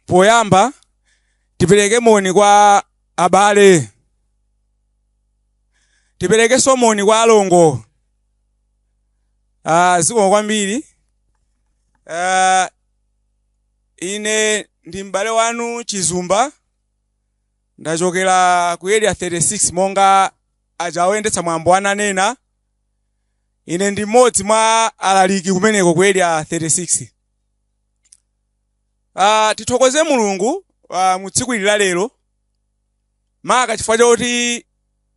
poyamba tipereke moni kwa abale tiperekenso moni kwa alongo ah, zikomo kwambiri ah, ine ndi m'bale wanu chizumba ndachokera ku area 36 monga aja oyendetsa mwambo ananena ine ndi mmodzi mwa alaliki kumeneko ku area 36 uh, tithokoze mulungu uh, mu tsiku ili la lero maka chifukwa choti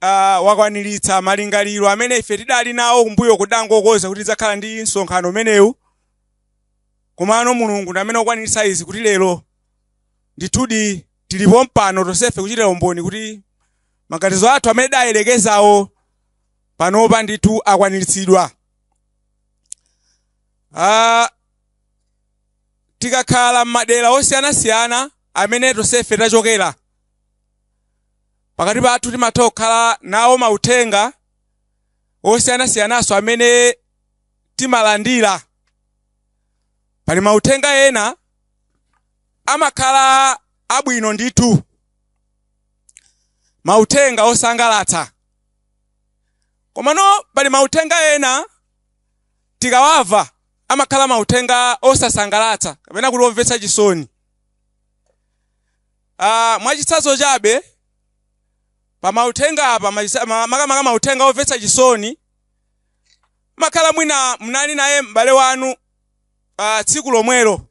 uh, wakwaniritsa malingaliro amene ife tidali nawo kumbuyoku pokonza kuti tidzakhala ndi msonkhano umenewu komano mulungu ndi amene wakwaniritsa izi kuti lero ndithudi tilipo mpano tonsefe kuchitira umboni kuti maganizo athu amene tidayerekezawo panopa ndithu akwaniritsidwa Ah, tikakhala m'madera osiyanasiyana amene tonsefe tachokera pakati pathu timatha kukhala nawo mauthenga osiyanasiyananso amene timalandira pali mauthenga ena amakhala abwino ndithu mauthenga osangalatsa komano pali mauthenga ena tikawamva amakhala mauthenga osasangalatsa kapena kuti omvetsa chisoni uh, mwachitsanzo chabe pa mauthenga apa makamaka mauthenga omvetsa chisoni mumakhala mwina mnali naye m'bale wanu uh, tsiku lomwelo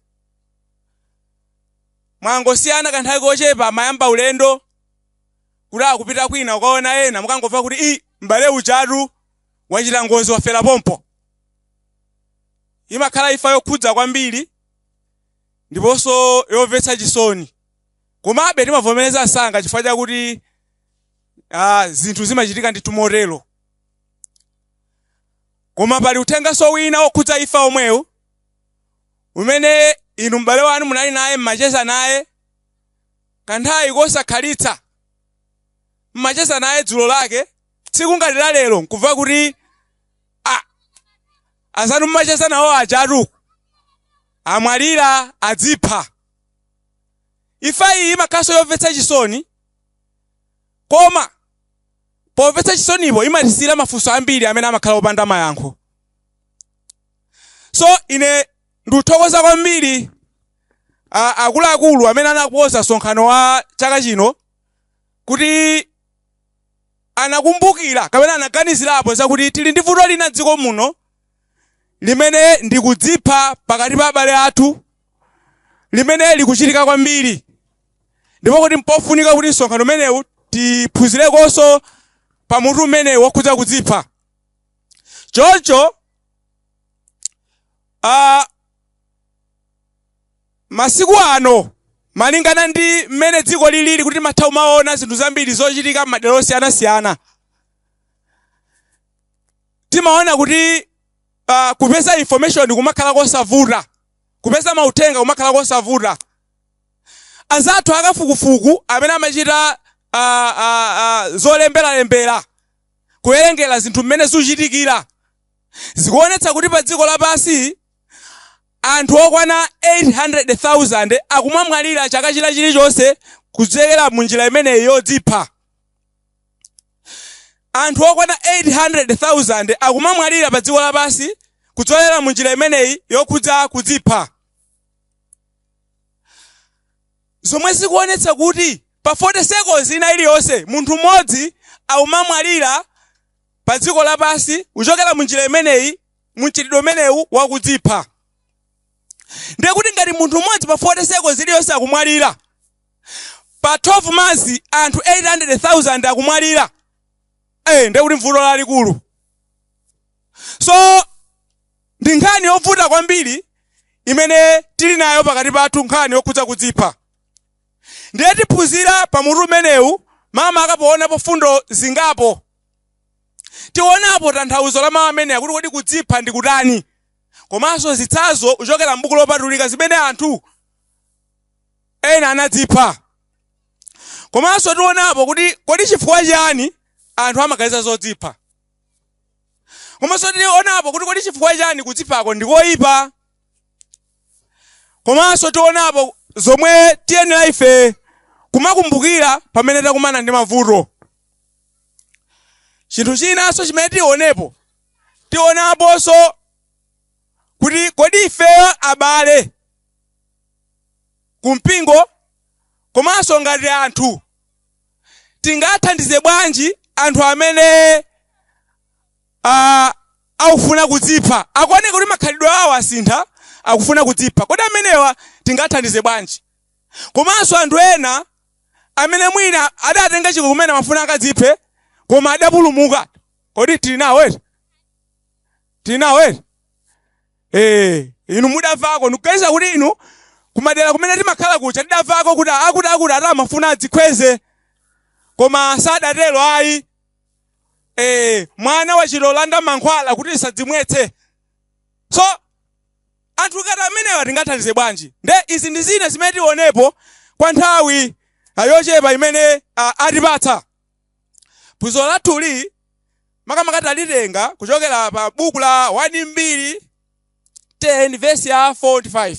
mwangosiyana kanthawi kochepa mwayamba ulendo kuti akupita kwina kukaona ena, mukungomva kuti i m'bale ujatu wachita ngozi wafera pompo. Imakhala imfa yokhudza kwambiri ndiponso yomvetsa chisoni. Komabe timavomereza msanga chifukwa chakuti ah, zinthu zimachitika ndithu motero. Koma pali uthenganso wina wokhudza imfa omwewu umene inu m'bale wanu munali naye mmacheza naye Kanthawi kosakhalitsa mmacheza naye dzulo lake tsiku ngati la lero nkumva kuti a azanu mmacheza nawo ajatu amwalira adzipha imfa iyi imakhalanso yomvetsa chisoni koma pomvetsa chisonipo imatisiyira mafunso ambiri amene amakhala opanda mayankho so ine Ndikuthokoza kwambiri ah, akuluakulu amene anakonza msonkhano wa chaka chino kuti anakumbukira kapena anaganizirapo zakuti tili ndi vuto lina dziko muno limene ndikudzipha pakati pa abale athu limene likuchitika kwambiri ndipo kuti mpofunika kuti msonkhano umenewu tiphunzirekonso pa mutu umenewu wokhudza kudzipha choncho Uh, masiku ano malingana ndi mmene dziko lilili kuti timatha kumaona zinthu zambiri zochitika m'madera osiyanasiyana timaona kuti uh, kupeza information kumakhala kosavuta kupeza mauthenga kumakhala kosavuta anzathu akafukufuku amene amachita uh, uh, uh, zolemberalembera kuwerengera zinthu mmene zikuchitikira zikuonetsa kuti padziko lapansi anthu okwana 800,000 akumamwalira chaka china chilichonse kudzera mu njira imeneyi yodzipha anthu okwana 800,000 akumamwalira pa dziko lapansi kudzera mu njira imeneyi yokhudza kudzipha zomwe zikuonetsa kuti pa 40 seconds ina iliyonse munthu mmodzi akumamwalira pa dziko lapansi kuchokera mu njira imeneyi mu mchitidwe umenewu wakudzipha ndiye kuti ngati munthu mmodzi pa 40 seconds iliyonse akumwalira pa 12 months anthu 800,000 akumwalira eh ndiye kuti mvuto lalikulu so ndi nkhani yovuta kwambiri imene tili nayo pakati pathu nkhani yokhudza kudzipha Ndiye tiphunzira pa mutu umenewu makamaka poonapo mfundo zingapo. Tionapo tanthauzo la mawu amenewa kuti kodi kudzipha ndi kutani komanso zitsanzo kuchokera m'buku lopatulika zimene anthu ena anadzipha. Komanso tionapo kuti kodi chifukwa chiyani anthu amaganiza zodzipha. Komanso tionapo kuti kodi chifukwa chiyani kudziphako ndi koipa. Komanso tionapo zomwe tiyenera ife kumakumbukira pamene takumana ndi mavuto. Chinthu chinanso chimene tionepo, tionaponso kuti kodi ifeyo abale kumpingo komanso ngati anthu tingathandize bwanji anthu amene a akufuna kudzipha. Akuoneka kuti makhalidwe awo asintha, akufuna kudzipha. Kodi amenewa tingawathandize bwanji? Komanso anthu ena amene mwina adatenga chikho kumene amafuna akadziphe koma adapulumuka. Kodi tili nawo eti? Tili nawo eti? Eh, inu mudamvako ndikuganiza kuti inu kumadera kumene timakhala kuja tidamvako kuti akuti akuti ati amafuna adzikhweze koma sadatero ayi. eh, mwana wa chitolanda mankhwala kuti asadzimwetse so anthu ngati amenewa tingathandize bwanji nde izi ndi zina zimene tionepo kwa nthawi ah, yochepa imene ah, atipatsa phunziro lathuli makamaka talitenga kuchokera pa buku la 1 mbiri 10 vesi ya 45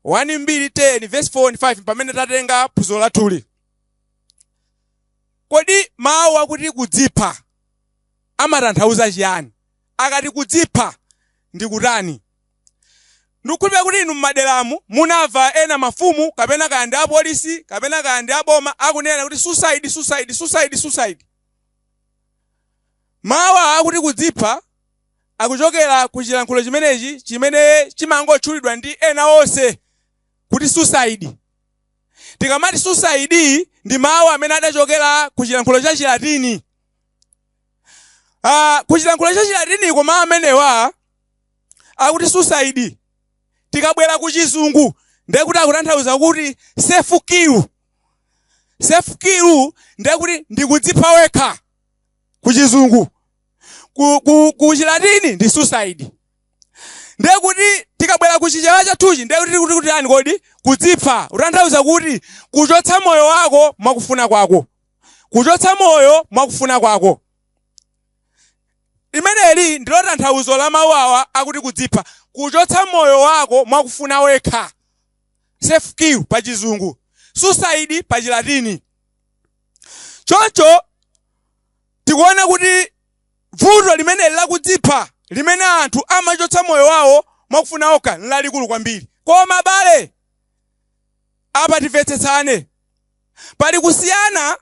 1 mbiri 10 vesi 45 pamene tatenga phunziro lathuli Kodi mawu akuti kudzipha amatanthauza chiyani? Akati kudzipha ndi kutani? Ndikukhulupirira kuti inu m'maderamu munamva ena mafumu kapena kaya ndi apolisi kapena kaya ndi aboma akunena kuti suicide, suicide, suicide, suicide. Mawu awa akuti kudzipha akuchokera ku chilankhulo chimenechi chimene chimangotchulidwa ndi ena onse kuti suicide. Tikamati suicide ndi mawu amene adachokera ku chilankhulo cha Chilatini. Ah, ku chilankhulo cha Chilatiniko mawu amenewa akuti suicide tikabwera ku chizungu ndiye kuti akutanthauza kuti self kill. Self kill ndiye kuti ndikudzipha wekha ku chizungu. Ku, ku, ku Chilatini ndi suicide. ndiye kuti tikabwera ku chichewa chathuchi ndiye kuti tikuti chiyani kodi kudzipha kutanthauza kuti kuchotsa moyo wako mwakufuna kwako kuchotsa moyo mwakufuna kwako limeneli ndilo tanthauzo la mawu awa akuti kudzipha kuchotsa moyo wako mwakufuna wekha self kill pa chizungu suicide pa chilatini choncho tikuona kuti Vuto limeneli la kudzipha, limene anthu amachotsa moyo wawo mwakufuna okha, n'lalikulu kwambiri. Koma abale, apa timvetsetsane. Pali kusiyana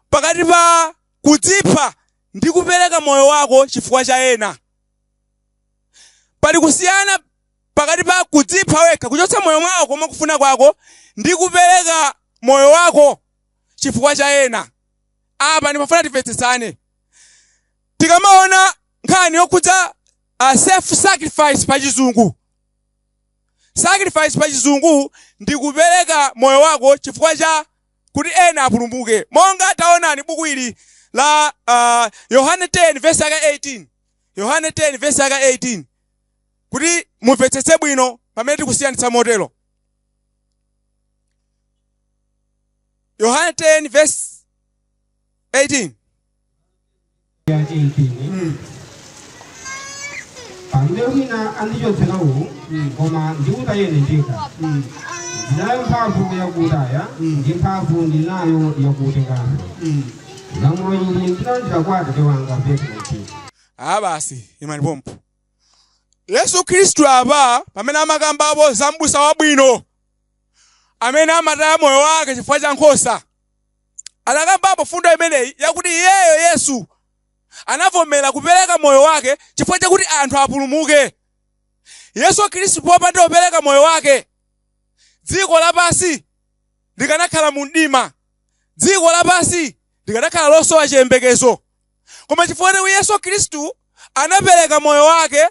pakati pa kudzipha ndi kupereka moyo wako chifukwa cha ena. Pali kusiyana pakati pa kudzipha wekha, kuchotsa moyo wako mwakufuna kwako, ndi kupereka moyo wako chifukwa cha ena. Apa ndimafuna timvetsetsane. tikamaona nkhani yokhudza uh, self sacrifice pa chizungu sacrifice pa chizungu ndi kupereka moyo wako chifukwa cha kuti ena apulumuke monga taonani buku ili la uh, yohane 10 vesi yake 18 yohane 10 vesi yake 18 kuti mumvetsetse bwino pamene tikusiyanitsa motero yohane 10 vesi 18 yake mpingo mm. palibe wina andichotsera uwu koma ndiutaya ine ndekha mm. ndinayo mphamvu yakutaya Mm. ndi mphamvu ndinayo yakutenganso mm. lamulo ili ndinalandira kwa atate wanga petro ah basi imani pompo yesu khristu apa pamene amakambapo za mbusa wabwino amene amataya moyo wake chifukwa cha nkhosa anakambapo mfundo imeneyi yakuti iyeyo, Yesu, anavomera kupereka moyo wake chifukwa chakuti anthu apulumuke. Yesu Khristu popanda kupereka moyo wake, dziko lapansi likanakhala mu mdima. Dziko lapansi likanakhala losowa chiyembekezo. Koma chifukwa chakuti Yesu Khristu anapereka moyo wake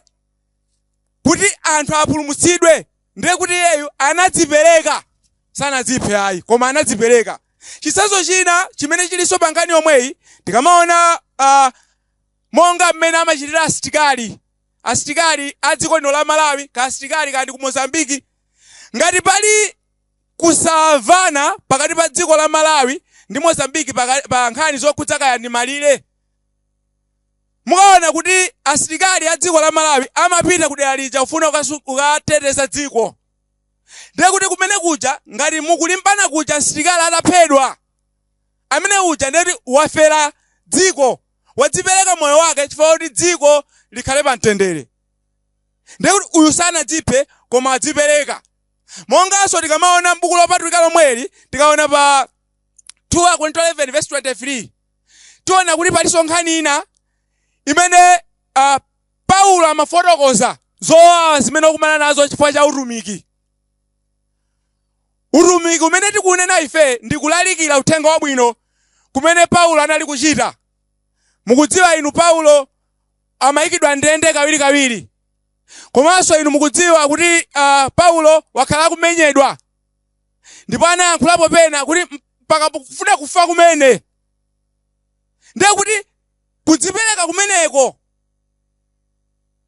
kuti anthu apulumutsidwe ndiye kuti iyeyu anadzipereka sanadziphe ayi koma anadzipereka chitsanzo china chimene chilinso pa nkhani yomweyi tikamaona uh, monga mmene amachitira asitikali asitikali a dziko lino la malawi ka asitikali kandi ku mozambiki ngati pali kusavana pakati pa dziko la malawi ndi mozambiki paka- pa nkhani zokhudza kaya ndi malire Mukaona kuti asilikali a dziko la Malawi amapita ku dera lija kufuna kukateteza dziko, ndiye kuti kumene kuja ngati mukulimbana kuja msilikali ataphedwa, amene uja ndiye kuti wafera dziko, wadzipereka moyo wake chifukwa choti dziko likhale pa mtendere. Ndiye kuti uyu sanadziphe koma wadzipereka. Monganso tikamaona m'buku lopatulika lomweli, tikaona pa 2 Akorinto 11 vesi 23. tiona kuti palinso nkhani ina imene uh, paulo amafotokoza zowawa zimene wakumana nazo chifukwa cha utumiki utumiki umene tikunena ife ndi kulalikira uthenga wabwino kumene paulo anali kuchita mukudziwa inu paulo amayikidwa ndende kawirikawiri komanso inu mukudziwa kuti uh, paulo wakhala akumenyedwa ndipo anayankhulapo pena kuti mpaka kufuna kufa kumene ndiye kuti kudzipereka kumeneko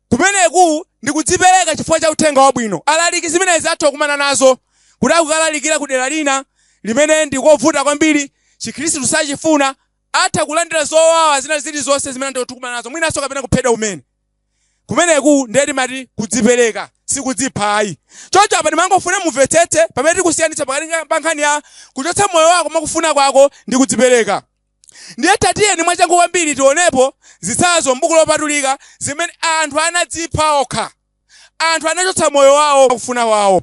kumeneku ndi kudzipereka chifukwa cha uthenga wabwino alaliki zimenezi atha kukumana nazo kuti akukalalikira ku dera lina limene ndi kovuta kwambiri chikhristu sachifuna atha kulandira zowawa zina zilizonse zimene anthu tikumana nazo mwinanso kapena kuphedwa kumene kumeneku ndiye timati kudzipereka sikudzipha ayi choncho apa ndimangofuna mumvetsetse pamene tikusiyanitsa pakati nga- pa nkhani ya kuchotsa moyo wako mwakufuna kwako ndi kudzipereka ndiye tatiyeni mwachangu kwambiri tionepo zitsanzo m'buku lopatulika zimene anthu anadzipha okha anthu anachotsa moyo wawo mwakufuna kwawo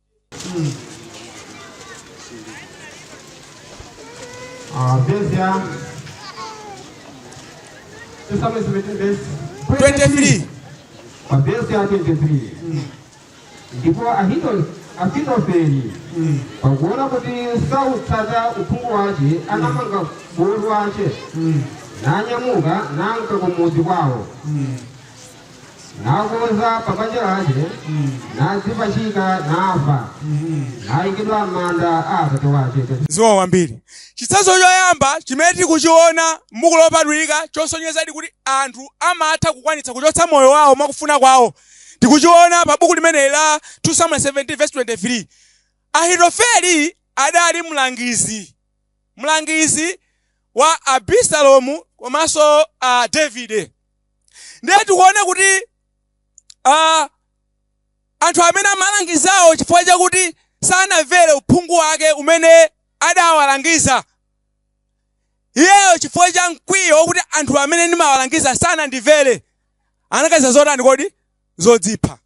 Verse ya 2 Samuel 17 verse 23. Verse ya 23. Ndipo Ahito- Ahitofeli pakuona kuti sautsata uphungu wace anamanga bulu wace nanyamuka nanka kumudzi kwawo nakonza pa banja lace nadzipachika nafa naikidwa m'manda a atate wace ziwa wambiri chitsanzo choyamba chimene tikuchiona m'buku lopatulika chosonyezadi kuti anthu amatha kukwanitsa kuchotsa moyo wawo mwakufuna kwawo tikuchiona pa buku limeneli la 2 samuel 17 verse 23 ahitofeli adali mlangizi mlangizi wa abisalomu komanso a davide ndiye tikuona kuti uh, anthu amene amalangizawo chifukwa chakuti sanamvere uphungu wake umene adawalangiza iyeyo chifukwa cha mkwiyo wokuti anthu amene ndimawalangiza sanandimvere anaganiza zotani kodi zodzipha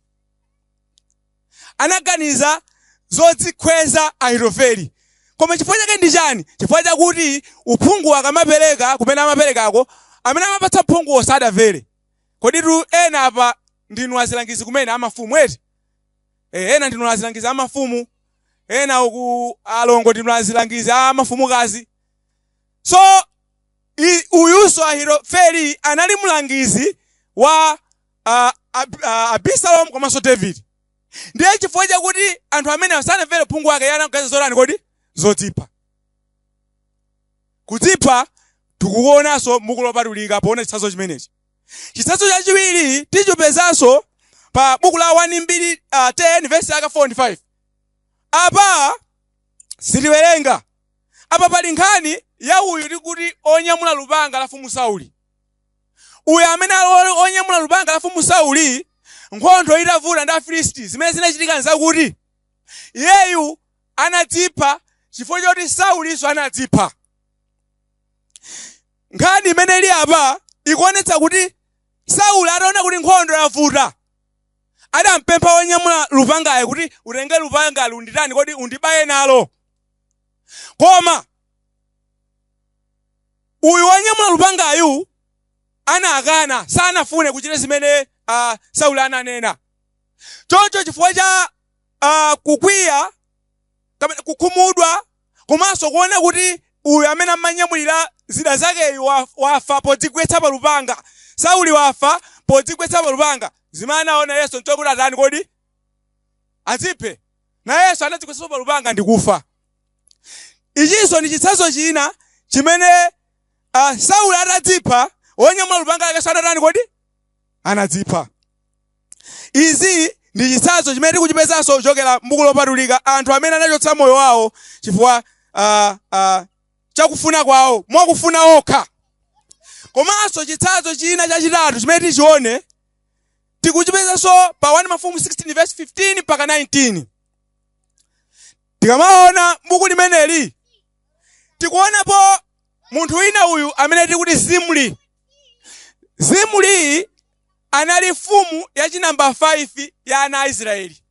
anaganiza zodzikhweza Ahitofeli. Koma chifukwa chake ndi chani? Chifukwa chakuti uphungu akamapereka kumene amaperekako, amene amapatsa uphunguwo sadamvere. Kodi tu ena apa ndinu azilangizi kumene a mafumu eti? Eh, ena ndinu azilangizi a mafumu, ena uku alongo ndinu azilangizi a mafumukazi. So i- uyunso Ahitofeli anali mlangizi wa ah, Ab- ah, abisalomu komanso davide ndiye chifukwa chakuti anthu amene sanamvere uphungu wake anaganiza zotani kodi zodzipha kudzipha tikukuonanso m'buku lopatulika poona chitsanzo chimenechi chitsanzo chachiwiri tichipezanso pa buku la 1 mbiri uh, 10 vesi yake 4 ndi 5 apa sitiwerenga apa pali nkhani ya uyu tikuti onyamula lupanga la mfumu sauli Uyo amene ali wonyamula lupanga la Mfumu Sauli, nkhondo itavuta ndi Afilisti, zimene zinachitika nzakuti iyeyu anadzipha chifukwa choti Saulinso anadzipha. Nkhani imene ili apa ikuonetsa kuti Sauli ataona kuti nkhondo yavuta, adampempha wonyamula lupangayo kuti utenge lupangali unditani, kodi undibaye nalo? Koma Uyu wonyamula lupangayu anakana, sanafune kuchita zimene uh, Sauli ananena. Choncho chifukwa cha uh, kukwiya kapena kukhumudwa komanso kuona kuti uyu amene amanyamulira zida zakeyu wafa podzigwetsa pa lupanga, Sauli wafa podzigwetsa pa lupanga, zimene anaona iyenso nchokuti atani kodi? Adziphe. Nayenso anadzigwetsanso pa lupanga ndi kufa. ichinso ndi chitsanzo china chimene uh, sauli atadzipha wonyamula lupanga lake anatani kodi anadzipha izi ndi chitsanzo chimene tikuchipezanso kuchokera mbuku lopatulika anthu amene anachotsa moyo wawo chifukwa uh, uh, chakufuna kwawo mwakufuna okha komanso chitsanzo china chachitatu chimene tichione tikuchipezanso pa 1 mafumu 16 verse 15 mpaka 19 Tikamaona m'buku limeneli, tikuonapo munthu wina uyu amene tikuti Zimri. Zimri anali mfumu ya chinamba 5 ya ana a Isiraeli.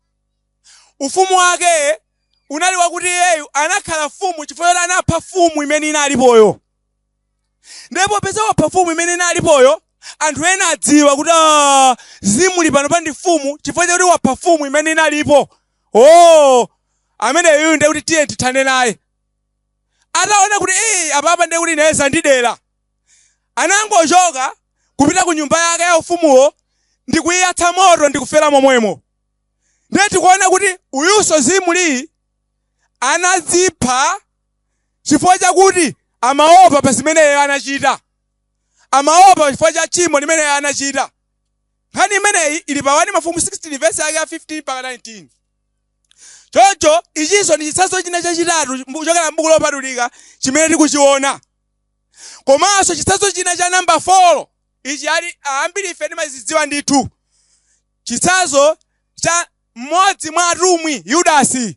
Ufumu wake unali wakuti iyeyu anakhala mfumu chifukwa choti anapha mfumu imene inalipoyo. ndiye popeza wapha mfumu imene inalipoyo anthu ena adziwa kuti "Ah, Zimri pano pa ndi mfumu chifukwa chakuti wapha mfumu imene inalipoyo ameneyu ndiye kuti tiye tithane naye ataona kuti "Ee, apapa ndiye kuti naye zandidera anangochoka kupita ku nyumba yake ya ufumuwo ndi kuyiyatsa moto ndi kufera momwemo ndiye tikuona kuti uyunso Zimri anadzipha chifukwa chakuti amaopa pa zimene iye anachita, amaopa chifukwa cha tchimo limene iye anachita. Nkhani imeneyi ili pa 1 Mafumu 16 vesi yake ya 15 mpaka 19. Choncho ichinso ndi chitsanzo china chachitatu mbu- kuchokera m'buku lopatulika chimene tikuchiona. Komanso chitsanzo china cha namba 4 ichi ambiri ife timazidziwa ndithu. Chitsanzo cha mmodzi mwa atumwi Yudasi.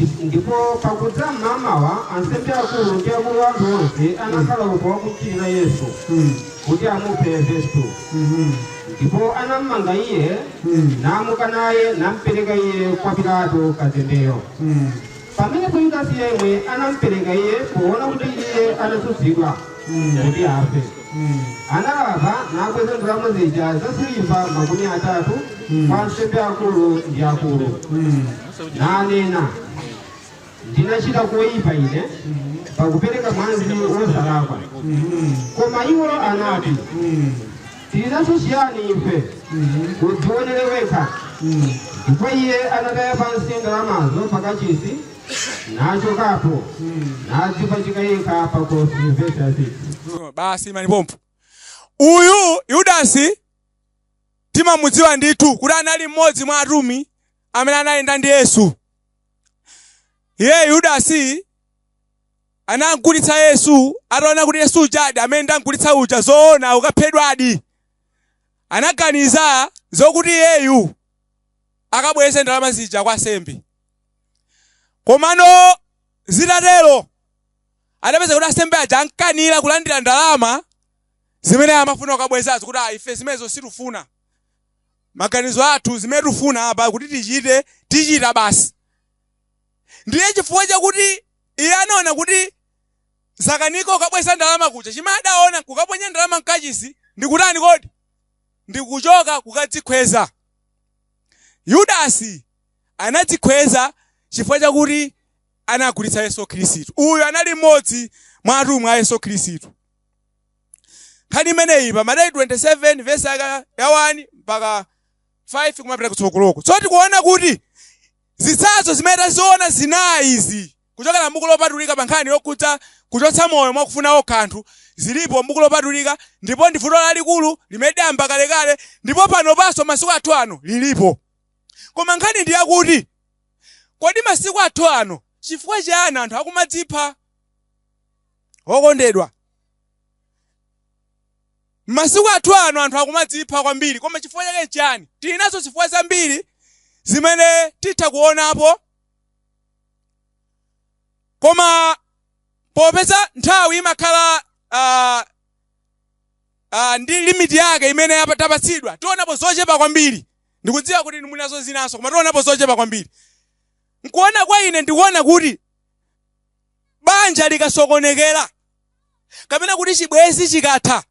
Ndi- Ndipo pakudza m'mamawa ansembe akulu ndi akulu a anthu onse anakhala upo wakumchitira Yesu Mm. kuti amuphe vesi 2 Mhm. ndipo anammanga iye Mm. namuka naye nampereka iye kwa pilato kazembeyo Mm. pamenepo yudasi yemwe anampereka iye poona kuti iye anatsutsidwa kuti afe analapa nabweza ndalama zija za siliva makumi atatu kwa ansembe akulu ndi akulu nanena ndinachita koyipa ine pakupereka mwazi wosalakwa koma iwo anati tilinacho chiyani ife udziwonere wekha ndipo iye anataya pansi ndalamazo pakachisi nachokapo nadzipachika yekha pakhosi vesi ya 6 Oh, basi imani pompo uyu yudasi timamudziwa ndithu kuti anali mmodzi mwa atumwi amene anayenda ndi yesu iye yudasi anamgulitsa yesu ataona kuti yesu ujadi amene ndamgulitsa uja zoona akaphedwadi anaganiza zokuti iyeyu akabweze ndalama zija kwa ansembe Komano zitatero adapeza kuti ansembe aja anakana kulandira ndalama zimene amafuna kukabwezazo kuti ah, ife zimenezo sitifuna maganizo athu zimene tifuna apa kuti tichite tichita basi ndiye chifukwa chakuti iye anaona kuti zakanika ukabweza ndalama kuja chimene adaona kukaponya ndalama mkachisi ndikutani kodi ndikuchoka kukadzikhweza yudasi anadzikhweza chifukwa chakuti anagulitsa Yesu Khristu. Uyu anali mmodzi mwa atumwi a Yesu Khristu. Nkhani imeneyi pa Mateyu 27 vesi yake ya 1 mpaka 5 kumapita kutsogoloko. So tikuona kuti zitsanzo zimene taziona zinayi izi kuchokera m'buku lopatulika pa nkhani yokhudza kuchotsa moyo mwa kufuna okha anthu zilipo m'buku lopatulika ndipo ndi vuto lalikulu limene lidayamba kalekale ndipo panopanso masiku athu ano lilipo. Koma nkhani ndi yakuti, kodi masiku athu ano chifukwa chiyani anthu akumadzipha? Okondedwa, masiku athu ano anthu akumadzipha kwambiri. Koma chifukwa chake n'chiyani? Tili nazo zifukwa zambiri zimene titha kuonapo. Koma popeza nthawi imakhala ah, ah, ndi limiti yake imene yapa- tapatsidwa, tionapo zochepa kwambiri. Ndikudziwa kuti inu muli nazo zinanso, koma tionapo zochepa kwambiri. Nkuona kwa ine ndikuona kuti banja likasokonekera kapena kuti chibwenzi chikatha,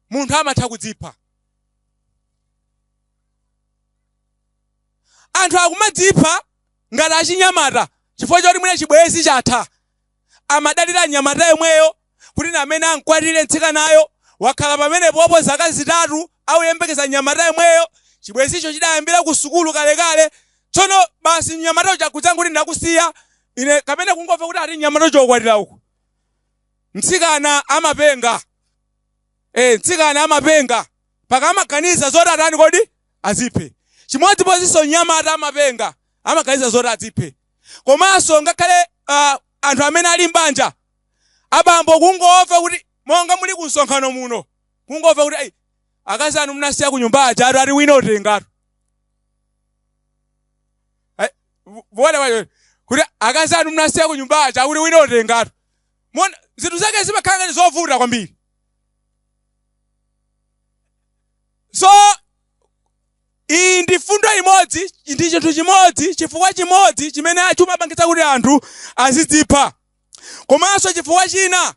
munthu amatha kudzipha. Anthu akumadzipha ngati achinyamata chifukwa choti mwina chibwenzi chatha. Amadalira mnyamata yemweyo kuti ndi amene amkwatire mtsikanayo. Wakhala pamenepopo zaka zitatu akuyembekeza mnyamata yemweyo. Chibwenzicho chidayambira kusukulu kalekale. Tsono basi mnyamata uja nkudzangoti ndakusiya ine kapena kungomva kuti ati mnyamata uja wakwatira uko. Mtsikana amapenga. Eh, mtsikana amapenga mpaka amaganiza zoti atani kodi? Adziphe. Chimodzimodzinso mnyamata amapenga, amaganiza zoti adziphe. komanso ngakhale uh, anthu amene ali mbanja abambo kungomva kuti monga muli ku msonkhano muno kungomva kuti akazi anu mnasiya ku nyumba aja ati wina watengatu vona wayo kuti akazi anu mnasiya ku nyumba aja kuti wina watengatu muona zinthu zake zimakhala ngati zovuta kwambiri so Iyi ndi fundo imodzi, ndi chinthu chimodzi, chifukwa chimodzi chimene chimapangitsa kuti anthu azidzipha. Komanso chifukwa china,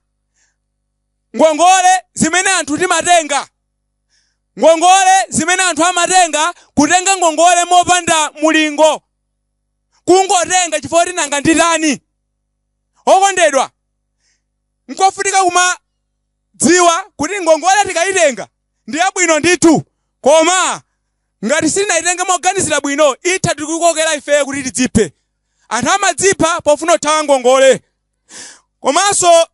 ngongole zimene anthu timatenga, ngongole zimene anthu amatenga, kutenga ngongole mopanda mulingo, kungotenga chifukwa choti nanga nditani. Okondedwa, nkofunika kumadziwa kuti ngongole tikayitenga, ndi yabwino ndithu, koma ngati sitinaitenge moganizira bwino, itha kutikokera ifeyo kuti tidziphe. Anthu amadzipha pofuna kuthawa ngongole. Komanso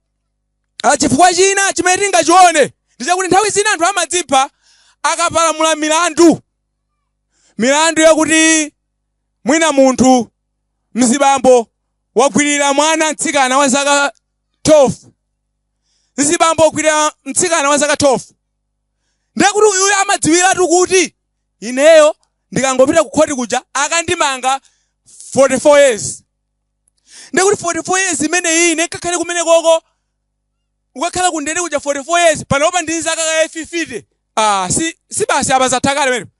a, chifukwa china chimene tingachione ndi chakuti nthawi zina anthu amadzipha akapalamula milandu, milandu yakuti mwina munthu mzibambo wagwirira mwana mtsikana wa zaka 12 mzibambo wagwirira mtsikana wa zaka 12 ndiye kuti uyuyo amadziwiratu kuti ineyo ndikangopita ku khoti kuja akandimanga 44 years ndiye kuti 44 years imeneyi ine ndikakhale kumene koko ukakhala kundende kuja 44 years panopa ndili ndi zaka kaye 50 ah, si, si basi apa zathakale pamenepo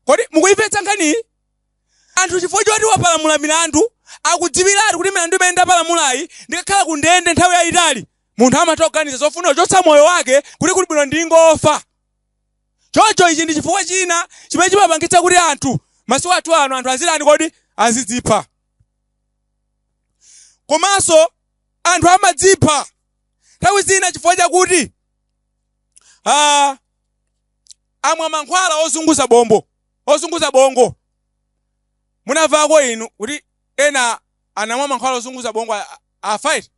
kodi mukuyimvetsa nkhaniyi anthu chifukwa choti wapalamula milandu, akudziwiratu kuti milandu imene ndapalamulayi ndikakhala kundende nthawi yaitali, munthu amatha kuganiza zofuna kuchotsa moyo wake kuti kuli bwino ndingofa. Choncho ichi ndi chifukwa china chimene chimapangitsa kuti anthu masiku athu ano anthu azitani kodi? Azidzipha. Komanso anthu amadzipha nthawi zina chifukwa chakuti ah, amwa mankhwala ozunguza bongo. ozunguza bongo munamvako inu kuti ena anamwa mankhwala ozunguza bongo a- a- afa iti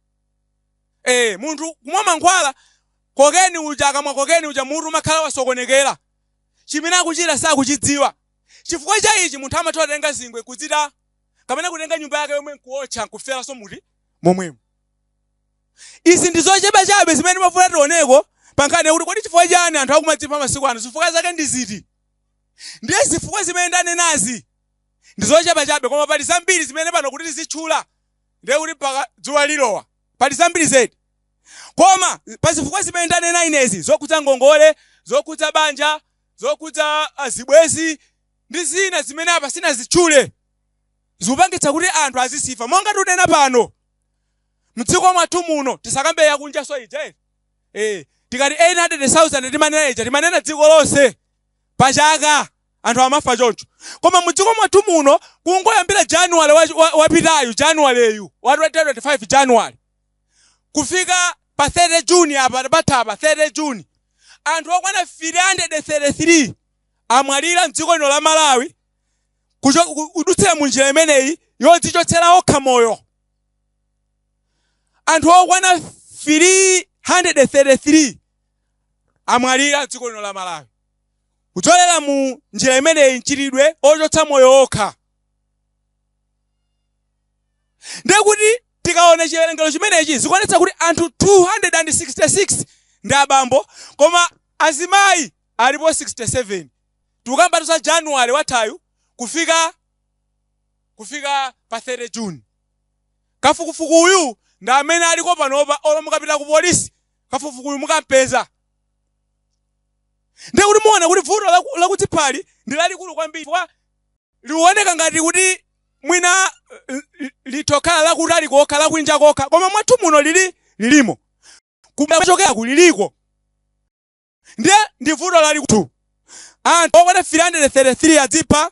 eh munthu kumwa mankhwala kokeni uja akamwa kokeni uja mutu umakhala wasokonekera chimene akuchita sakuchidziwa chifukwa cha ichi munthu amatha kutenga zingwe kudzipha kapena kutenga nyumba yake yomwe nkuotcha nkuferanso mmoto momwemo izi ndi zochepa chabe zimene timafuna tioneko pa nkhani yakuti kodi chifukwa chani anthu akumadzipha masiku ano zifukwa zake ndi ziti Ndiye zifukwa zimene ndanenazi ndi zochepa chabe koma pali zambiri zimene pano kuti tizitchula ndiye kuti mpaka dzuwa lilowa. Pali zambiri zedi. Koma pa zifukwa zimene ndanena inezi zokhudza ngongole, zokhudza banja, zokhudza ah, zibwenzi ndi zina zimene apa sinazitchule zikupangitsa kuti anthu azidzipha monga tinena pano mdziko mwathu muno tisakambe yakunjanso ija eti Eh, tikati 800,000 timanena ija timanena dziko lonse pa chaka anthu amafa choncho koma mu dziko mwathu muno kungoyambira januwale wapitayu januwaleyu wa 2025 januwale kufika pa 30 juni apa pathapa 30 juni anthu okwana 333 amwalira mdziko lino la malawi kucho- ku- kudutsira mu njira imeneyi yodzichotsera okha moyo Anthu okwana 333 amwalira m'dziko lino la Malawi kudzolera mu njira imeneyi mchitidwe wochotsa moyo okha. Ndiye kuti tikaona chiwerengero chimenechi zikuonetsa kuti anthu 266 ndi abambo koma azimayi alipo 67. Tikukambatu za January wathayu kufika kufika pa 30 June. Kafukufuku uyu ndi amene aliko panopa olo mukapita ku police kafukufukuyu mukampeza. Ndiye kuti muona kuti vuto lakudziphali ndi lalikulu kwambiri chifukwa lioneka ngati kuti mwina litokhala lakutali kokha lakunja kokha koma mwathu muno lili lilimo kumachokera kuli liliko ndiye ndi vuto lalikulu anthu okwana 333 adzipha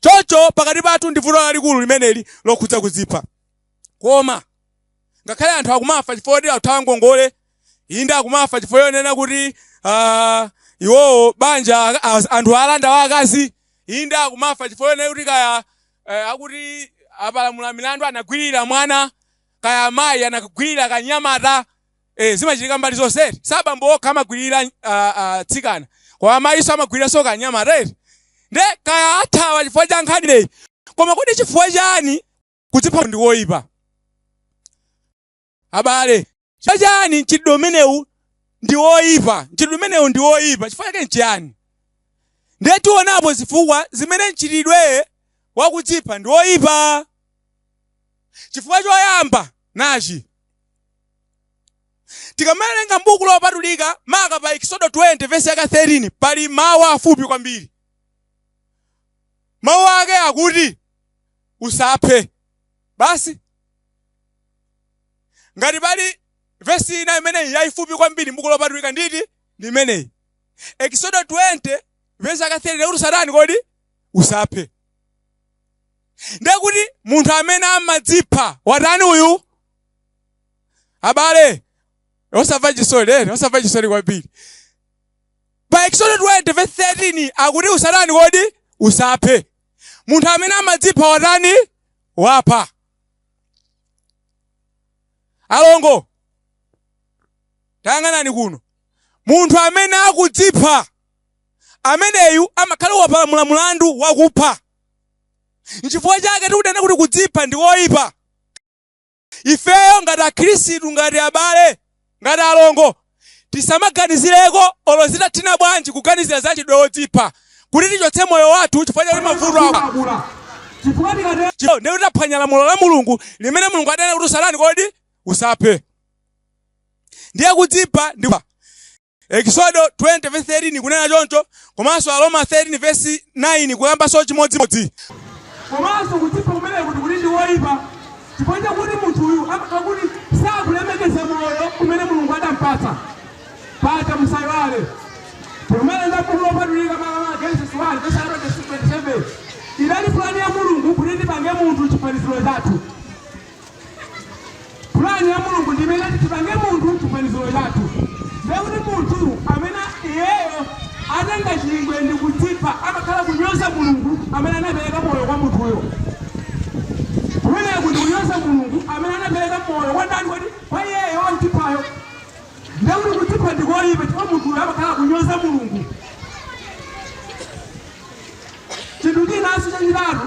Choncho pakati pathu ndi vuto lalikulu limeneli lokhudza kudzipha. Koma ngakhale anthu akumafa chifukwa choti akuthawa ngongole, inde akumafa chifukwa chonena kuti ah, iwowo banja aka- as- anthu alanda wa akazi, inde akumafa chifukwa chonena kuti kaya eh, akuti apalamula milandu anagwirira mwana, kaya amayi anagwirira kanyamata, ee zimachitika mbali zonse eti si abambo okha amagwirira uh, uh, tsikana koma amayinso amagwiriranso kanyamata right nde kaya athawa chifukwa cha nkhani imeneyi koma kodi chifukwa chani kudzipha ndi woyipa abale chifukwa chani mchitidwe umenewu ndi woyipa mchitidwe umenewu ndi woyipa chifukwa chake nchiyani tiye tionepo zifukwa zimene mchitidwe wakudzipha ndi woyipa chifukwa choyamba nachi tikamawerenga mbuku lopatulika maka pa eksodo 20 vesi yake 13 pali mawu afupi kwambiri mawu ake akuti usaphe basi ngati pali vesi ina imene ili yayifupi kwambiri mbuku lopatulika nditi ndi imeneyi eksodo 20 vesi yake 13 akuti usatani kodi usaphe ndekuti munthu amene amadzipha watani uyu abale osamva chisoni ena osamva chisoni kwambiri pa eksodo 20 verse 13 akuti usatani kodi usaphe munthu amene amadzipha watani wapha alongo tayang'anani kuno munthu amene akudzipha ameneyu amakhala wapalamula mulandu wakupha nchifukwa chake tikunena kuti kudzipha ndi koyipa ifeyo ngati akhristu ngati abale ngati alongo tisamaganizireko olo zitathina bwanji kuganizira za mchitidwe wodzipha kuti tichotse moyo wathu chifukwa chakuti mavuto akula chifukwa tikatero Chifukwa ndiye kuti taphwanya lamulo la mulungu limene mulungu adanena kuti usatani kodi usaphe ndiye kudzipha ndi Ekisodo 20 vesi 13 kunena choncho komanso Aroma 13 vesi 9 kukambanso chimodzimodzi. Komanso kudzipha kumeneku kuti ndi koipa chifukwa chakuti munthuyu amakhala kuti sakulemekeza moyo umene Mulungu adampatsa. Paja musaiwale pamene m'buku lopatulika makamaka Genesis 1 vesi 27 idali pulani ya Mulungu kuti tipange munthu chifaniziro chathu. Pulani ya Mulungu ndi imeneyi tipange munthu chifaniziro chathu. Ndiye kuti munthu amene iyeyo atenga chingwe ndi kudzipha amakhala akunyoza Mulungu amene anapereka moyo kwa munthuyo. Kumeneku ndi kunyoza Mulungu amene anapereka moyo kwa ndani kodi? Kwa iyeyo wodziphayo. Ndiye kuti kudzipha ndi koyipa chifukwa munthuyo amakhala akunyoza Mulungu. Chinthu chinanso chachitatu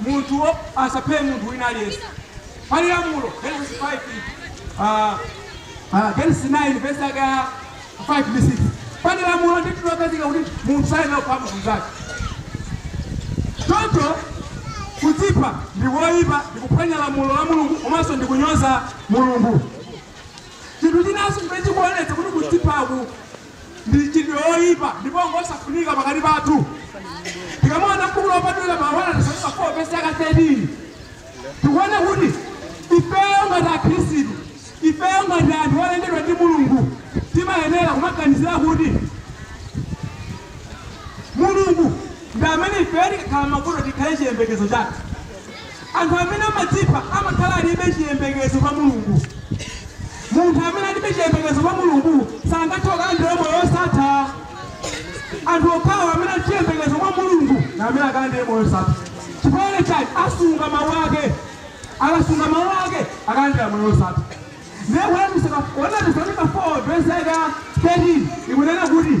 Munthu asaphe munthu wina aliyense. Pali lamulo, Genesis 5, a, a, Genesis 9, vesi yake ya 5 ndi 6. Pali lamulo ndithu lokhazikika kuti munthu sayenera kupha munthu mnzake. Choncho kudzipha ndi koipa, ndi kuphwanya lamulo la Mulungu komanso ndi kunyoza Mulungu. Chinthu chinanso chimene chikuonetsa kuti kudziphaku ndi mchitidwe woipa ndipo ngosafunika pakati pathu. Tikamaona m'buku lopatulika pa 1 Atesalonika 4 vesi yake 13 tikuona kuti ifeyo ngati akhristu ifeyo ngati anthu olengedwa ndi mulungu timayenera kumaganizira kuti mulungu ndi amene ifeyo tikakhala m'mavuto tikhale chiyembekezo chathu Anthu amene amadzipha amakhala alibe chiyembekezo pa Mulungu. Munthu amene alibe chiyembekezo pa Mulungu sangathe kukalandira moyo wosatha. Anthu okhawo amene ali chiyembekezo kwa Mulungu ndi amene akalandire moyo wosatha. Chifukwa chani? Asunga mawu ake. Akasunga mawu ake akalandira moyo wosatha. Ndiye 1 Atesalonika 4 vesi yake ya 13 ikunena kuti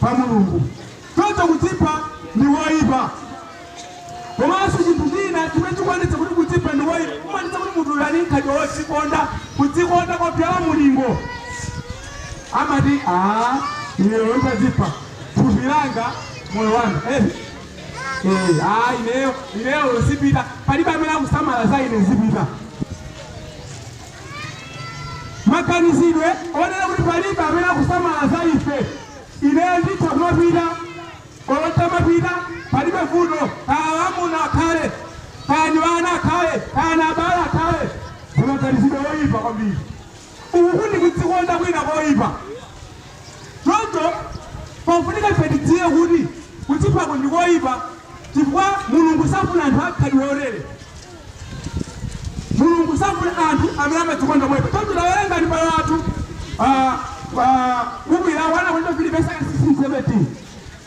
pa Mulungu. Choncho kudzipha ndi koipa. Komanso chinthu china chimene chikuonetsa kuti kudzipha ndi koipa, kumaonetsa kuti munthu uyu ali n'khalidwe wodzikonda, kudzikonda kopyola mulingo. Amati a ineyo nditadzipha thupi langa moyo wanga eh. Eh, ah, ineyo ineyo zipita, palibe amene akusamala za ine zipita. maganizidwe onena kuti palibe amene akusamala za ife ineyo nditha kumapita olo nditamapita palibe vuto kaya amuna akhale kaya ndi ana akhale kaya na abale akhale ndi maganizidwe oyipa kwambiri uku ndi kudzikonda kwina koyipa Choncho pakufunika ife tidziwe kuti kudziphaku ndi koipa chifukwa Mulungu safuna anthu a mkhalidwe wotere. Mulungu safuna anthu amene amadzikonda moipa. Choncho tawerengani abale athu pa pa buku la 1 Akorinto 3 vesi yake 16, 17.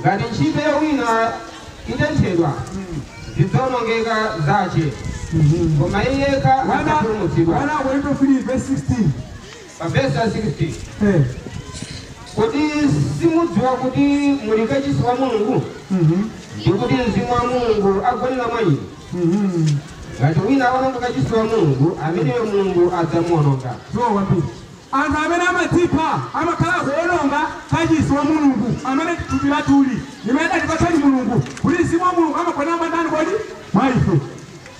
Ngati nchito ya wina itenthedwa, zidzaonongeka zace, koma iye yekha adzapulumutsidwa. 1 Akorinto 3 vesi 16. Pa vesi ya 16, Eh. Kodi simudziwa kuti muli kacisi wa Mulungu, Mhm. ndi kuti Mzimu wa Mulungu agonera mwa inu? Mhm. Ngati wina aononga kacisi wa Mulungu, ameneyo Mulungu adzamuononga. Sure kwambiri. Anthu amene amadzipha amakhala akuwononga kachisi wa Mulungu, amene ndi thupi lathuli, limene adatipatsadi Mulungu, pakuti Mzimu wa Mulungu amagonera mwa ndani kodi? Mwa ife.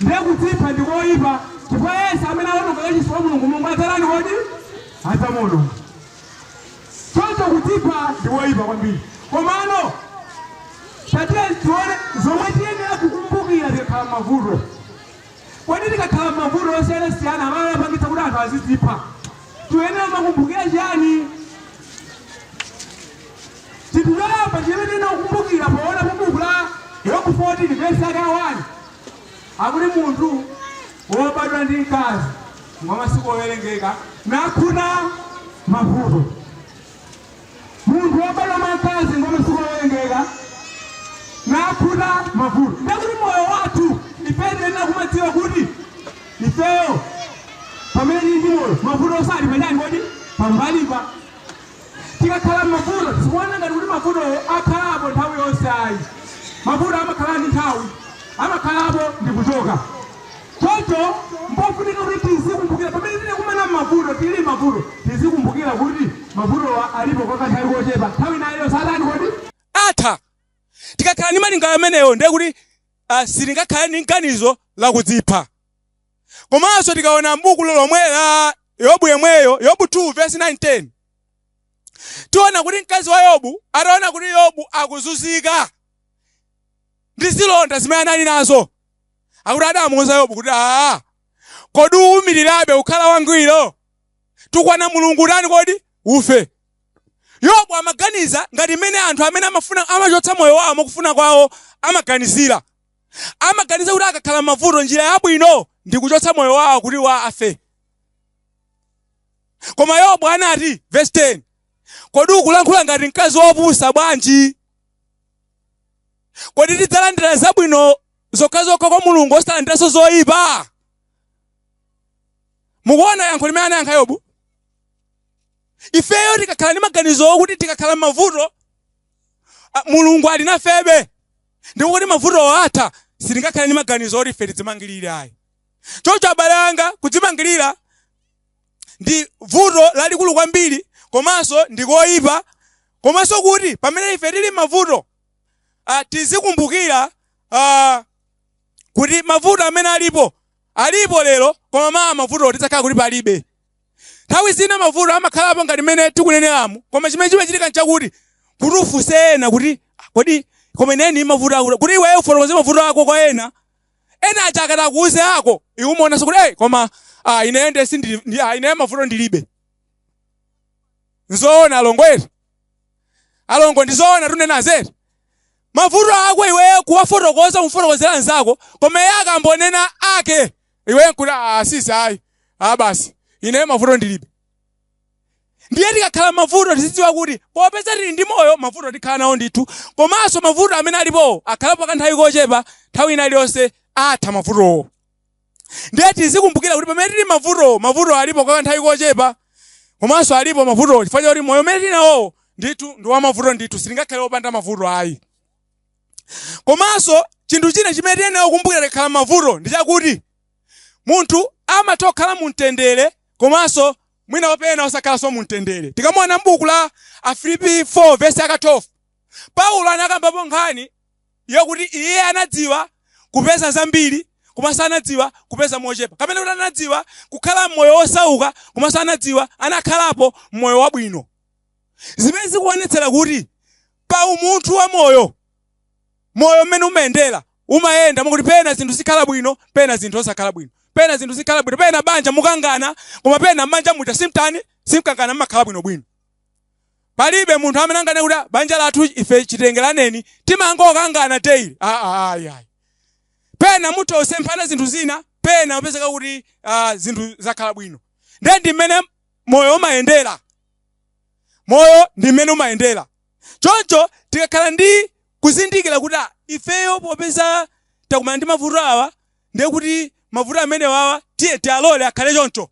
Ndiye kudzipha ndi koipa, chifukwa yense amene awononga kachisi wa Mulungu, Mulungu adzatani kodi? Adzamuwononga. Choncho kudzipha ndi koipa kwambiri. Komano tatiyeni tione zomwe tiyenera kukumbukira tikakhala m'mavuto. Kodi tikakhala m'mavuto osiyanasiyana amene amapangitsa kuti anthu azidzipha, tiyenera kumakumbukira chiyani? Chinthu choyamba chimene tiyenera kukumbukira poona pa buku la Yobu 14 vesi yake ya 1 akuti munthu wobadwa ndi mkazi ngwa masiku owerengeka nakhuta mavuto. Munthu wobadwa mwa mkazi ngwa masiku owerengeka, nakhuta mavuto. Ndiye kuti moyo wathu ifeyo tiyenera kumadziwa kuti ifeyo pamene tili ndi moyo mavuto asali patali kodi pambalipa tikakhala m'mavuto tikuona ngati kuti mavutowo akhalapo nthawi yonse ayi mavuto amakhala ndi nthawi amakhalapo ndi kuchoka Choncho m'pofunika kuti tizikumbukira pamene tikukumana m'mavuto, tili m'mavuto, tizikumbukira kuti mavutowa alipo kwa kanthawi kochepa, nthawi ina iwo atani kodi? atha. Tikakhala ndi malingaliro amenewo ndiye kuti sitingakhale ndi nganizo la kudzipha. Komanso tikaona m'buku lomwe la Yobu yemweyo, Yobu 2 vesi 9, 10, tiona kuti mkazi wa Yobu ataona kuti Yobu akuzunzika ndi zilonda zimene anali nazo, akuti adamuuza yobu kuti aa kodi uwumirirabe kukhala wangwiro tukwana mulungu utani kodi ufe yobu amaganiza ngati mmene anthu amene amachotsa moyo wawo mwakufuna kwawo amaganizira amaganiza kuti akakhala mavuto njira yabwino ndi kuchotsa moyo wawo kuti afe koma yobu anati verse 10 kodi ukulankhula ngati mkazi wopusa bwanji kodi tidzalandira zabwino zokhazokha kwa mulungu osalandiranso zoyipa mukuona yankho limene anayankha yobu ifeyo tikakhala ndi maganizo okuti tikakhala m'mavuto mulungu ali nafebe ndipo kuti mavuto atha sitingakhale ndi maganizo oti ife tidzimangirire ayi choncho abale anga kudzimangirira ndi vuto lalikulu kwambiri komanso ndi koyipa komanso kuti pamene ife tili m'mavuto ah, tizikumbukira ah, kuti mavuto amene alipo alipo lero koma mawa mavuto adzakhala kuti palibe nthawi zina mavuto amakhalapo ngati mmene tikuneneramu koma chimene chimachitika nchakuti kuti ufunse ena kuti "Ah, kodi koma ineni mavuto akuti kuti iweyo ufotokoze mavuto ako kwa ena Ena aja akati akuuze awo, iwe umaonanso kuti hey, koma ah, ineyo nde sindili ndi- ah, ineyo mavuto ndilibe. Nzoona alongo eti. Alongo ndizoona tunenazi eti. Mavuto ako iweyo kuwafotokoza umfotokozera mnzako, koma iye akambonena ake. Iwe nkuti ah, sisi ayi. Ah basi. Ineyo mavuto ndilibe. ndiye tikakhala mavuto tizidziwa kuti popeza tili ndi moyo mavuto tikhala nawo ndithu komanso mavuto amene alipowo akhalapo kanthawi kochepa nthawi ina iliyonse atha mavutowo ndiye tizikumbukira kuti pamene tili mavutowo mavuto alipo kwa kanthawi kochepa komanso alipo mavutowo chifukwa chakuti moyo umene tili nawowo ndithu ndi wamavuto ndithu sitingakhale opanda mavuto ayi komanso chinthu china chimene tiyenera kukumbukira tikakhala mavuto ndi chakuti Munthu amatha kukhala mu mtendere komanso mwina wapena osakhalanso mu mtendere. Tikamaona m'buku la Afilipi 4 vesi yake 12, Paulo anakambapo nkhani yakuti iye anadziwa kupeza zambiri komanso anadziwa kupeza mochepa, kapena kuti anadziwa kukhala m'moyo wosauka komanso anadziwa anakhalapo m'moyo wabwino, zimene zikuonetsera kuti pa umunthu wa moyo moyo mmene umayendera, umayenda mwakuti pena zinthu zikhala bwino, pena zinthu osakhala bwino, pena zinthu zikhala bwino, pena banja mukangana, koma pena m'banja muja simtani simkangana, mmakhala bwino bwino. Palibe munthu amene anganene kuti "Ah, banja lathu ife chitengeraneni timangokangana daily. Ah, ah, ayi, ayi. Pena mutha kusemphana zinthu zina, pena upezeka kuti ah, zinthu zakhala bwino. Ndiye ndi mmene moyo umayendera, moyo ndi mmene umayendera. Choncho tikakhala ndi kuzindikira kuti a, ifeyo popeza takumana ndi mavuto awa ndiye kuti mavuto amenewawa tiye tialole akhale choncho,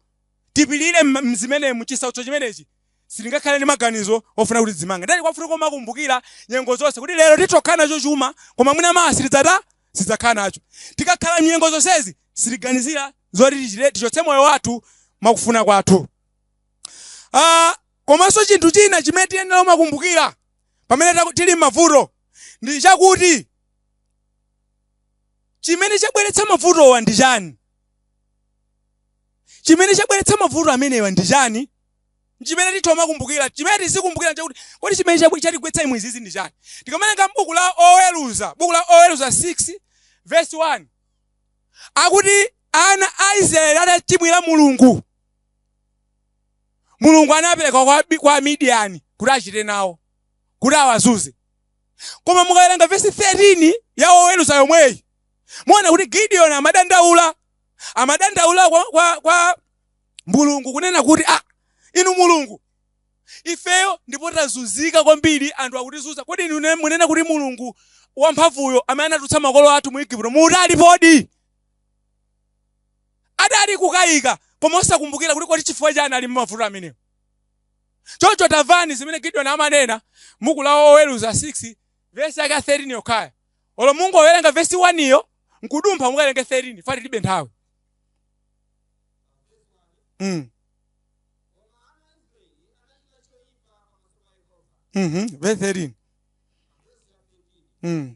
tipirire m'zimenezi m'chisautso chimenechi, sitingakhale ndi maganizo ofuna kuti tidzimange. Ndiye kwafunika kumakumbukira nyengo zonse kuti lero titha kukhala nacho chuma koma mwina mawa sitidzata, sitidzakhala nacho. Tikakhala m'nyengo zonsezi sitiganizira zoti tichite, tichotse moyo wathu mwakufuna kwathu. a. Komanso chinthu china chimene tiyenera kumakumbukira pamene tili m'mavuto ndi chakuti, chimene chabweretsa mavutowa ndi chani? Chimene chabweretsa mavuto amenewa ndi chani? N'chimene titha kumakumbukira. Chimene tizikumbukira n'chakuti, kodi chimene chatigwetsa umu izizi ndi chani? Tikawerenga m'buku la Oweruza, buku la Oweruza 6 vesi 1, akuti ana a Israeli atachimwira Mulungu. mulungu anapereka kwa, kwa amidiyani kuti achite nawo kuti awazunze koma mukawerenga vesi 13 ya woweruza yomweyi muona kuti gideoni amadandaula amadandaula kwa, kwa, kwa mulungu kunena kuti ah, inu mulungu ifeyo ndipo tazunzika kwambiri anthu akutizunza kodi inu ne- munena kuti mulungu wamphamvuyo amene anatulutsa makolo athu mu igupto muti alipodi adali kukayika koma osakumbukira kuti kodi chifukwa chani ali mmavuto amenewo choncho tamvani zimene gideoni amanena mbuku la oweruza 6 vesi yake 13 yokhaya olo mungowerenga vesi 1 iyo nkudumpha mukawerenge 13 foti tilibe nthawi mm. mm -hmm. vesi 13 mm.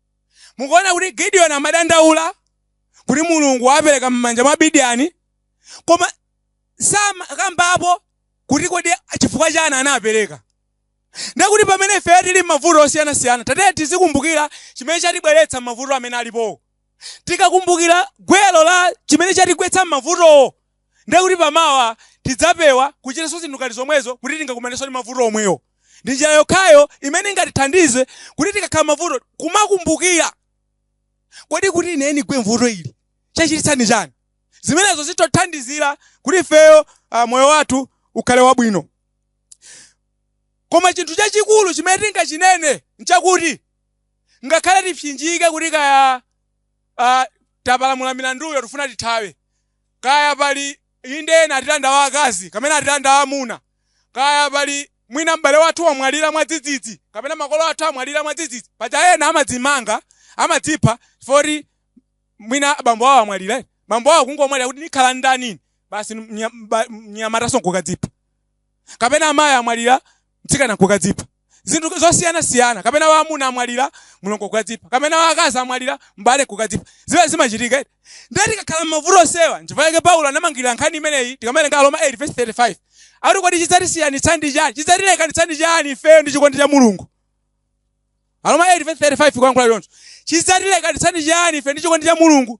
Mukuona kuti Gideoni amadandaula kuti Mulungu wapereka m'manja mwa Midiani, koma sakambapo kuti kodi chifukwa chani anapereka. Ndiye kuti pamene ifeyo tili m'mavuto osiyanasiyana, tatiyeni tizikumbukira chimene chatibweretsa m'mavuto amene alipowo. Tikakumbukira gwero la chimene chatigwetsa m'mavutowo, Ndiye kuti pa mawa tidzapewa kuchitanso zinthu ngati zomwezo kuti tingakumanenso ndi mavuto omwewo. Ndi njira yokhayo imene ingatithandize kuti tikakhala m'mavuto kumakumbukira, Kodi kuti ine ndigwe m'vuto ili chachititsa ndi chani? Zimenezo zitithandizira kuti ifeyo moyo wathu ukhale wabwino. Koma chinthu chachikulu chimene tingachinene n'chakuti, ngakhale tipsinjike kuti kaya tapalamula milanduyo tikufuna tithawe, Kaya pali, inde, ena atilanda wa akazi, kapena atilanda wa amuna. Kaya pali, mwina m'bale wathu wamwalira mwadzidzidzi, kapena makolo athu amwalira mwadzidzidzi. Paja ena amadzimanga, amadzipha, chifukwa choti mwina bambo awo amwalira. Bambo awo kungomwalira kuti nikhala n'ndani ine? Basi mnyamatanso nkukadzipha. kapena amayi amwalira mtsikana nkukadzipha, zinthu zosiyana siyana, kapena wa amuna amwalira mlongo kukadzipha, kapena wa akazi amwalira m'bale nkukadzipha, zimene zimachitika eti. Ndiye tikakhala m'mavuto onsewa, nchifukwa chake Paulo anamangirira nkhani imeneyi tikamawerenga Aroma 8 vesi 35 akuti kodi chidzatisiyanitsa ndi chani, chidzatilekanitsa ndi chani ifeyo ndi chikondi cha Mulungu? Aroma 8 vesi 35 kulankhula choncho, chidzatilekanitsa ndi chani ife ndi chikondi cha Mulungu?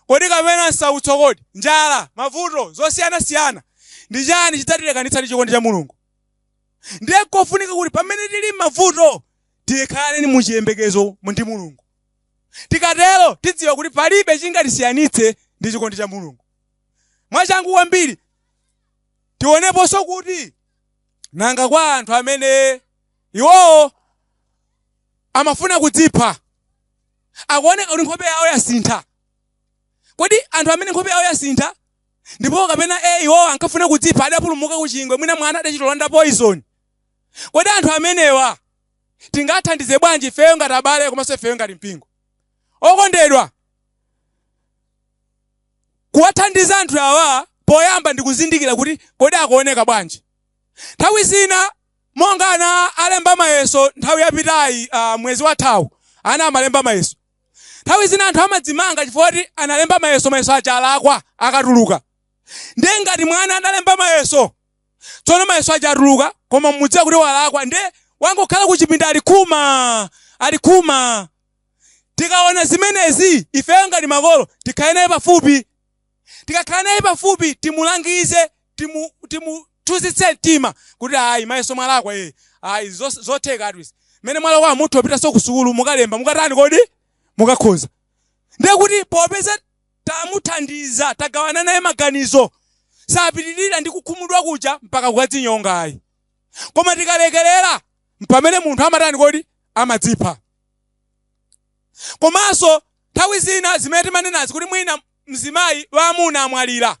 Kodi kapena nsautso, kodi njala, mavuto, zosiyana siyana, ndi chani chidzatilekanitsa ndi chikondi cha Mulungu? Ndiye nkofunika kuti pamene tili mmavuto tikhale mu chiyembekezo ndi Mulungu. Tikatero tidziwa kuti palibe chingatisiyanitse ndi chikondi cha Mulungu. Mwachangu kwambiri tioneponso kuti nanga kwa anthu amene iwowo amafuna kudzipha. akuoneka kuti nkhope yawo yasintha kodi anthu amene nkhope yawo yasintha ndipo kapena e iwo ankafuna kudzipha adapulumuka ku chingwe mwina mwana adachita kulanda poison kodi anthu amenewa tingathandize bwanji ifeyo ngati abale komanso ifeyo ngati mpingo okondedwa kuwathandiza anthu awa poyamba ndikuzindikira kuti kodi akuoneka bwanji nthawi zina Monga ana alemba mayeso nthawi yapitayi, mwezi wathawu ana amalemba mayeso. Nthawi zina anthu amadzimanga chifukwa choti analemba mayeso, mayeso aja alakwa akatuluka. Ndiye ngati mwana analemba mayeso, tsono mayeso aja atuluka koma mudziwa kuti walakwa ndiye wangokhala kuchipinda ali khumaa, ali khumaa. Tikaona zimenezi, ifeyo ngati makolo tikhale naye pafupi. Tikakhala naye pafupi timulangize timu timu tonthozetse mtima kuti ayi mayeso mwalakwa ee ayi zos- zotheka zinthu izi mmene mwalakwa mutha kupitanso ku sukulu mukalemba mukatani kodi mukakhoza ndiye kuti popeza tamuthandiza tagawana naye maganizo sapitirira ndi kukhumudwa kuja mpaka kukadzinyonga ayi koma tikalekerera mpamene munthu amatani kodi amadzipha komanso nthawi zina zimene timanenazi kuti mwina mzimayi amuna amwalira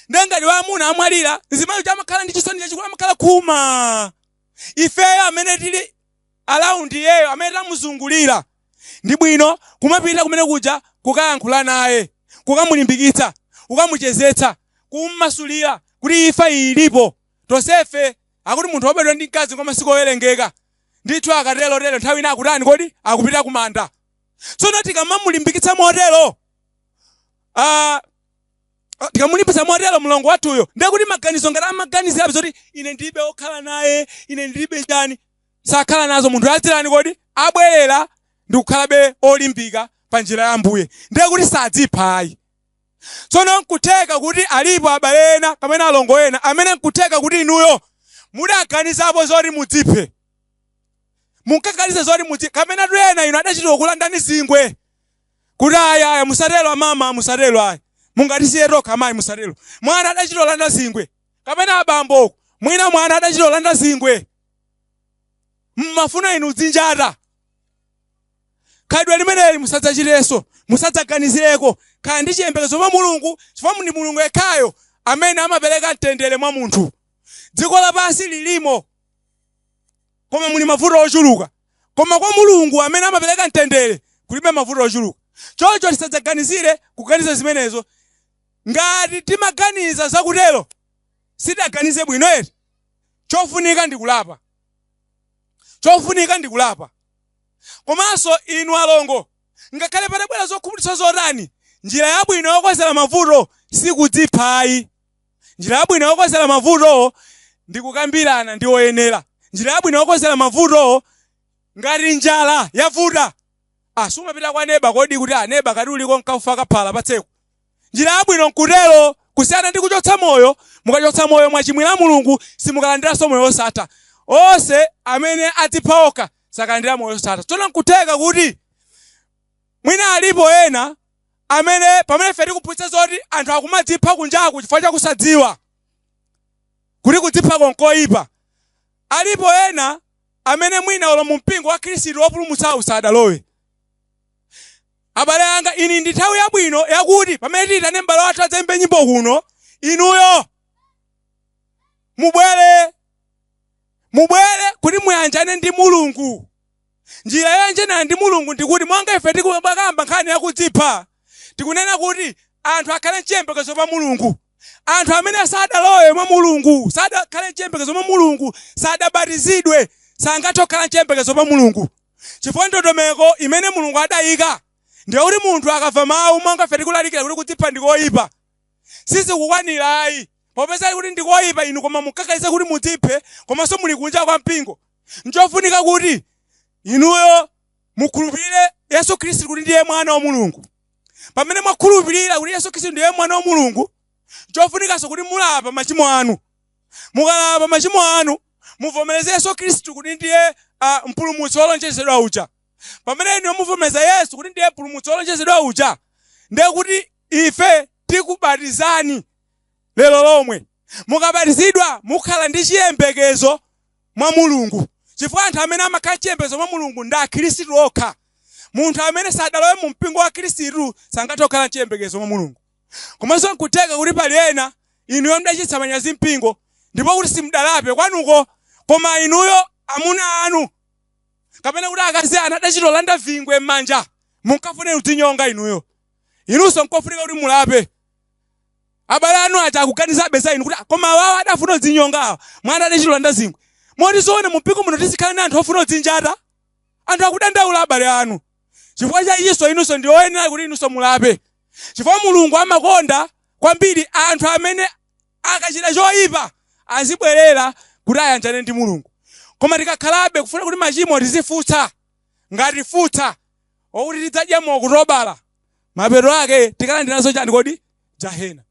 nde ngati amuna amwalira mzimayi uja amakhala ndi chisoni chachikulu amakhala khuma ifeyo amene tili around iyeyo amene tamuzungulira ndi bwino kumapita kumene kuja kukayankhula naye kukamulimbikitsa kukamuchezetsa kummasulira kuti imfa iyi ilipo tonsefe akuti munthu wobadwa ndi mkazi ngwa masiku owerengeka ndithu akatero tero nthawi ina akutani kodi akupita kumanda tsono tikamamulimbikitsa motero ah, ah, tikamulimbitsa motero mlongo wathuyo ndiye kuti maganizo ngati amaganizirabe zoti ine ndilibe okhala naye ine ndilibe chani sakhala nazo nthawi adzatani kodi abwerera ndi kukhalabe olimbika pa njira ya Ambuye ndiye kuti sadzipha ayi tsono nkutheka kuti alipo abale ena kapena alongo ena amene nkutheka kuti inuyo mudaganizapo zoti mudziphe munkaganiza zoti mudziphe kapena tinene inu adachita kukulandani zingwe kuti ayi ayi musatelo amama musatelo ayi mungatisiye tokha amayi musatelo mwana adachita kulanda zingwe kapena abambo uko mwina mwana adachita kulanda zingwe mmafuna inu mudzinjate khalidwe limeneli musadzachitenso musadzaganizireko khala ndi chiyembekezo mwa mulungu chifukwa ndi mulungu yekhayo amene amapereka mtendere mwa munthu dziko lapansi lilimo Koma muli mavuto ochuluka. Koma kwa Mulungu amene amapereka mtendere kulibe mavuto ochuluka. Choncho tisadzaganizire kuganiza zimenezo. Ngati timaganiza zakutero, sitidaganize bwino eti? Chofunika ndi kulapa. Chofunika ndi kulapa. Komanso inu alongo, ngakhale patabwera zokhumudwitsa zotani, njira yabwino yokonzera mavuto si kudzipha ayi. Njira yabwino yokozera mavutowo ndi kukambirana ndi oyenera. Njira yabwino yokozera mavutowo Ngati njala yavuta, ah, sumapita kwa neba kodi kuti ah, neba kodi uliko kaufa kaphala patseko. Njira yabwino nkutero kusiyana ndi kuchotsa moyo, mukachotsa moyo mwachimwira Mulungu simukalandiranso moyo wosatha. Onse amene adzipha okha sakalandira moyo wosatha. Tsono nkutheka kuti Mwina alipo ena amene pamene ife tikuphunzitsa zoti anthu akumadzipha kunjaku chifukwa cha kusadziwa kuti kudziphako n'koipa, alipo ena amene mwina olo mumpingo wa Khristu wopulumutsa sadalowe. Abale anga, iyi ndi nthawi yabwino yakuti pamene tiitane m'bale wathu adzaimbe nyimbo kuno, inuyo mubwere, mubwere kuti muyanjane ndi Mulungu. Njira yoyanjanirana ndi Mulungu ndi kuti monga ife tikubakamba nkhani ya kudzipha, tikunena kuti anthu akhale nchiyembekezo pa Mulungu. Anthu amene sadalowe mwa Mulungu, sadakhale nchiyembekezo pa Mulungu, sadabatizidwe, sangathe kukhala nchiyembekezo pa Mulungu. Chifukwa ndondomeko imene Mulungu adayika ndi yakuti munthu akamva mawu monga ife tikulalikira kuti kudzipha ndi koyipa, sizikukwanira ayi. Popeza kuti ndi koyipa inu koma munkakayesa kuti mudziphe komanso muli kunja kwa mpingo, Nchofunika kuti inuyo mukhulupirire Yesu Khristu kuti ndiye Mwana wa Mulungu. Pamene mwakhulupirira kuti Yesu Khristu ndiye Mwana wa Mulungu, chofunikanso kuti mulape machimo anu. Mukalapa machimo anu, muvomereze Yesu Khristu kuti ndiye ah, mpulumutsi wolonjezedwa uja. Pamene inuyo muvomereza Yesu kuti ndiye mpulumutsi wolonjezedwa uja, ndiye kuti ife tikubatizani lero lomwe. Mukabatizidwa mukhala ndi chiyembekezo mwa Mulungu, chifukwa anthu amene amakhala nchiyembekezo mwa Mulungu ndi Akhristu okha. Munthu amene sadalowe mu mpingo wa Khristu sangathe kukhala nchiyembekezo mwa Mulungu. Komanso n'kutheka kuti pali ena inuyo mudachititsa manyazi mpingo ndipo kuti simudalape kwanuko, koma inuyo, amuna anu kapena kuti akazi anu adachitolanda vingwe m'manja, munkafuna kudzinyonga inuyo. Inunso n'kofunika kuti mulape. Abale anu aja akuganizabe za inu kuti ah, koma awawa adafuna kudzinyonga awa. Mwana adachita kulanda zingwe. Moti zoona mu mpingo muno tizikhala ndi anthu ofuna kudzinjata. Anthu akudandaula abale anu. Chifukwa cha ichinso inunso ndi oyenera kuti inunso mulape. Chifukwa Mulungu amakonda kwambiri anthu amene akachita choyipa azibwerera kuti ayanjane ndi Mulungu. Koma tikakhalabe kufuna kuti machimo tizifutsa ngati futsa okuti tidzadya mu Okutobala, mapeto ake tikalandira nazo chani kodi? Jahena.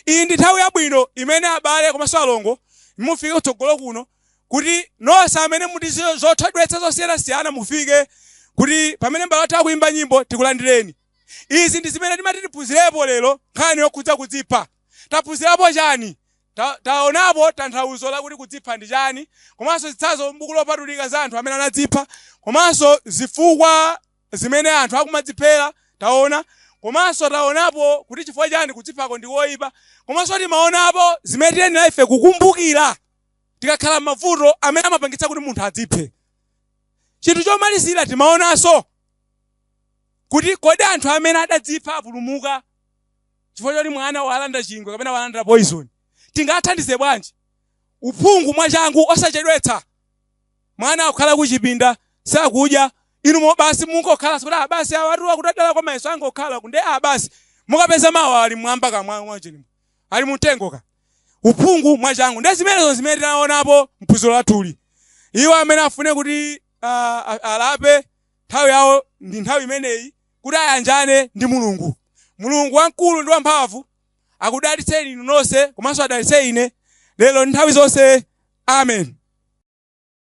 Iyi ndi nthawi yabwino imene abale komanso alongo mufike kutsogolo kuno kuti nonse amene muli ndi zothodwetsa zosiyanasiyana mufike kuti pamene abale athu akuimba nyimbo tikulandireni. Izi ndi zimene timati tiphunzirepo lero nkhani yokhudza kudzipha. Taphunzirapo chani? Taonapo tanthauzo lakuti kudzipha ndi chani komanso zitsanzo m'Buku Lopatulika za anthu amene anadzipha komanso zifukwa zimene anthu akumadziphera taona komanso taonapo kuti chifukwa chani kudziphako ndi koipa komanso timaonapo zimene tiyenera ife kukumbukira tikakhala m'mavuto amene amapangitsa kuti munthu adziphe. Chinthu chomalizira timaonanso kuti kodi anthu amene adadzipha apulumuka? chifukwa choti mwana walanda chingwe kapena walanda poyizoni. Tingathandize bwanji? Uphungu mwachangu, osachedwetsa. Mwana akukhala kuchipinda, sakudya, inu mo basi mungokhala sikuti ah basi awatu akudandaula kwa mayeso angokhala kunde ah basi mukapeza mawa ali mwamba kamwa mwachilimwe ali mumtengo. Uphungu mwachangu ndi zimenezo zimene tinaonapo mphunziro lathuli iwo amene afune kuti ah, a- alape nthawi yawo ndi nthawi imeneyi kuti ayanjane ndi Mulungu. Mulungu wamkulu ndi wamphamvu akudalitseni inu nonse komanso adalitse ine lero ndi nthawi zonse. Amen.